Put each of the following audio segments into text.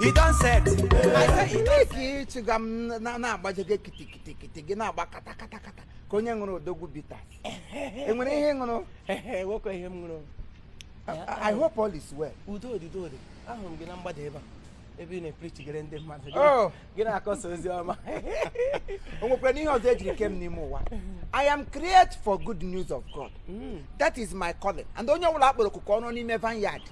E don set. I say e don ka ịchịga m na- na-agbaje gị kitikitikiti gị na-agba katakatakata ka onye ṅụrụ odogwu bitters enwere ihe ị ṅụrụ Ehe, nwoke ihe m ṅụrụ. I- I hope all is well. Udo dị, udo dị. Ahụrụ m gị na mgbada ebe a. Ebe ị na-eprichigere ndị mmadụ. Oh, gị na-akọsa ozi ọma o nwekwaranụ ihe ọzọ ejiri kee m n'ime ụwa i am created for good news of god hmm. that is my calling and onye ọbụla akpọrọ oku ka ọ rụọ n'ime vineyard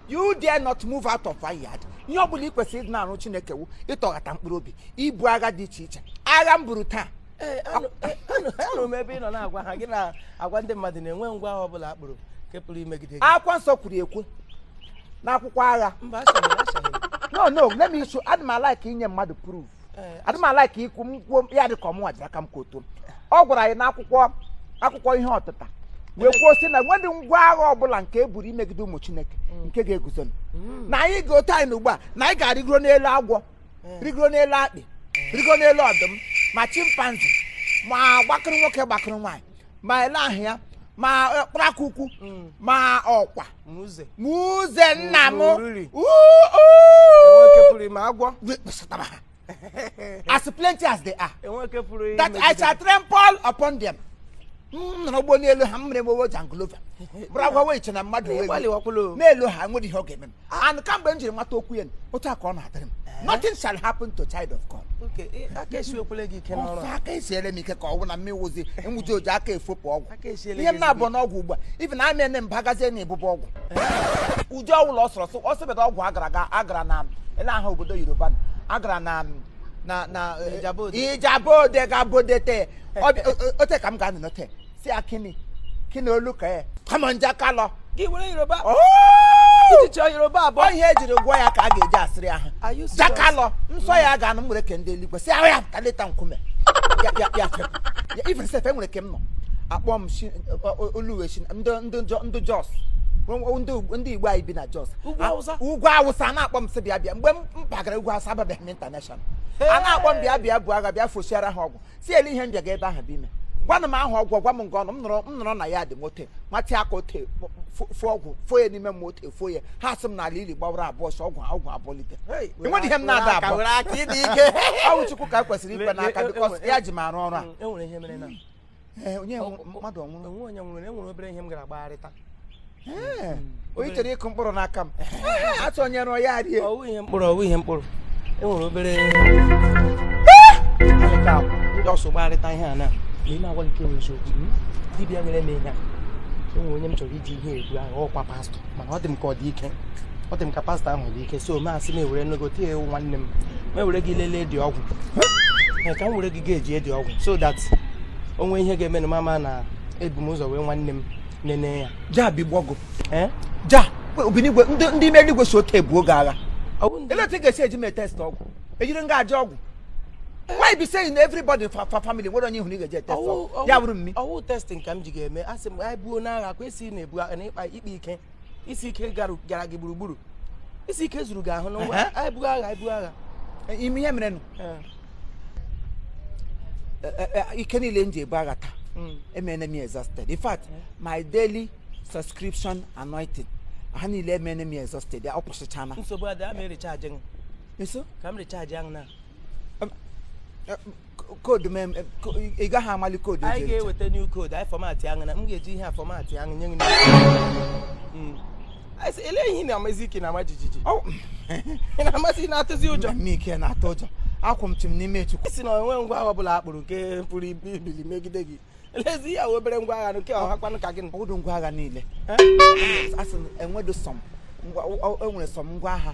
you dare not move out of vineyard ihe ọ bụla ị kwesịrị ịdị na-arụ chineke wu ịtọghata mkpụrụ obi ibu agha dị iche iche agha m buru taa anụrụ m ebe ị nọ na-agwa ha gị na-agwa ndị mmadụ na enweghị ngwa agha ọbụla akpụrụ nke pụrụ imegide gị akwụkwọ nsọ kwuru ekwu n'akwụkwọ agha mba no no let me show adị m alaik inye mmadụ proof adị m alaik ikwu m kwuo ya dị ka ọ mụnwa ji aka m ka otu ọ gwara anyị n'akwụkwọ akwụkwọ ihe ọtụta wee kwuo sị na enwedị ngwa agha ọbụla nke e buru imegide ụmụ chineke mm. nke ga-eguzo mm. na anyị ga otu anyị na ugbu a na anyị ga-arịgoro n'elu agwọ rịgoro n'elu akpị rịgoro n'elu ọdụm ma chimpanzee ma gbakụrụ nwoke gbakụrụ nwaanyị ma ele aha ya ma kparakwukwu ma ọkwa Ma uze. ma uze nna m Oriri. Uu, uu. Enweke pụrụ ime agwọ. We- kpọsatara ha. as plenty as they are Enweke pụrụ ime that I shall trample upon them. m nọrọ ụgbọ n'elu ha m mere mewo jangolova bụrụ agwa wee che na mmadụ wee Ịgbalị wakwụlụ. n'elu ha nwedị ihe ọ ga-eme m and kamgbe m jiri mata okwu ya otu a ka ọ na-adịrị m eh? nothing shall happen to child of God eh, aka esiwekwele gị ike n'ọrụ ọsọ aka esiere m ike ka ọ bụ na mụ wụzi m wụzi oji aka efopụ ọgwụ ihe m na-abọ n'ọgwụ ugbu a even na m abagazie na ebube ọgwụ eh? ụdị ọwụla ọ sọrọ ọ sịbeda ọgwụ agara aga agara na ele aha obodo yoruba agara na na na ijebu ode gabodete ote ka m ga-anọ n'ote sí akínni kí ni olùkọ́ ẹ̀ kọ́mọ̀ ń já ká lọ. gị were yoruba jíjọ yorùbá àbọ̀. ọ ihe ejiri gwọ ya ka a ga-eji asịrị ha já ká lọ nsọ ya ga-anụ nwere ke ndị eluigwe si ahụ ya pụta leta nkume ya ya ya fepụ ya even sef nwere ke m nọ akpọ m oluwe shi ndị ndị ndị jos ndị igbo anyị bi na jos ugwu awụsa na-akpọ m sị bịa bịa mgbe m bagara ugwu awụsa ababeghị m international a na-akpọ m bịa bịa buo agha bịa fosiara ha ọgwụ si ele ihe nje ga ebe ahụ bụ ime gwanụ m ahụ ọgwụ gwa m nga ọ nọ m nọrọ m nọrọ na ya dị m ote m watịa aka ote fo ọgwụ fo ya n'ime m ote fo ya ha sị m na ala ili gbawara abụọ sọ ọgwụ ọgwụ abụlite enweghị ihe m na-ada abụọ were aka ịdị ike ọwụ chukwu ka kwesịrị ikwe n'aka because ya ji m arụ ọrụ a enwere ihe mere na onye mmadụ ọnwụrụ enwere onye nwụrụ enwere obere ihe m gara gbagharịta onye chọrọ ịkụ mkpụrụ n'aka m atụnyere ya rie ọwụ ihe mkpụrụ ọwụ ihe mkpụrụ e nwere obere alịka akwụ ndị ọsọ gbarịta ihe a na ị na-agwa nke nwere eziokwu hmm? dibịa nyere m ihe a enwere onye m chọrọ iji ihe egbu ahụ ọkwa pastọ mana ọ dị m ka ọ dị ike ọ dị m ka pastọ ahụ dị ike so m sị m were nnukwu tinye ewu nwanne m ma ewere gị lelee dị ọgwụ ka m were gị ga-eji edi ọgwụ so that o nwee ihe ga-eme nụ m ama na ebu m ụzọ wee nwanne m nene ya ja bi gbọgụ eh? ja obinigwe ndị ime eluigwe so oke ebuo gị agha ele otu ị ga-esi eji m etest ọgwụ ejiri nga aja ọgwụ why be say everybody for for family nwere onye ị hụrụ ị ga-eji etest ọgwụ ya bụrụ mmi ọ wụ testing ka m ji gị eme a sị m anyị buo n'agha kwa esi na-ebu na ịkpa ikpe ike isi ike gara gị gburugburu isi ike zuru gị ahụ n'ụwa anyị buo agha anyị buo agha ime ihe merenụ eh. e, e, e, ike niile m ji ebu agha taa mm. emene m exhausted in fact my daily subscription anointing ha niile emene m exhausted ọ gwụsịchana nsogbu adị ama erecharge nso ka m recharge ahụ na code m ị gaghị amali code anyị ga-eweta new code anyị format ahụ na m ga-eji ihe a format ahụ nye gị elee ihe ị na-amazi ị ka na-ama jijiji ị na-amazi na-atụzi ụjọ ị ka na-atụ ụjọ akwụ m chim n'ime chukwu sị na o nwe ngwa agha ọbụla akpụrụ nke pụrụ ibili megide gị elezi ihe ahụ obere ngwa agha nke hakwanụ ka gị ọ wụdụ ngwa agha niile a sị enwedụ some enwere some ngwa agha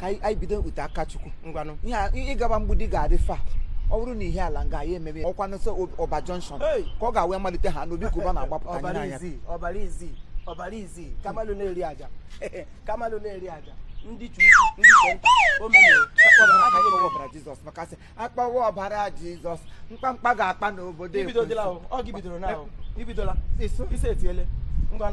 ka anyị bido ute aka chukwu ngwanụ ihe ịgaba mgbidi ga-adị fa ọ bụrụ na ihe ala nga ya emebe ọkwa n'ụsọ ọba junction ka ọ ga-awee malite ha n'obi ka ụba na-agbapụta ọbara izi ọbara izi ọbara izi kamalu na-eri aja kamalu na-eri aja ndị ke ukwu ndị ke nta ọbara jizọs maka sị akpawa ọbara jizọs mkpamkpa ga-akpa n'obodo ibidola ọ gị bidoro na ibidola ise etiele ngwa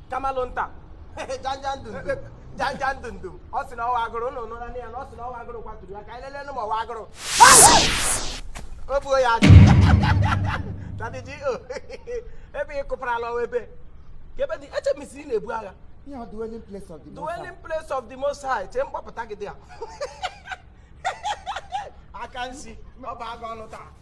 kamalụ nta janja ndụ ndụ janja ndụ ndụ ọ sị na ọ wụ agụrụ ụnụ nụra na ya na ọ sị na ọ wụ agụrụ kwaturu ya ka anyị lelee nụ ma ọ wụ agụrụ o buo ya ajụ tadị ji o ebe ị kụparala ọwa ebe ka ebe dị eche m isi ị na-ebu agha Ihe ọ dwelling place of the Most High. dwelling place of the most high chere m kpọpụta gị dị ya aka nsi ọ bụ agụ ọnụ taa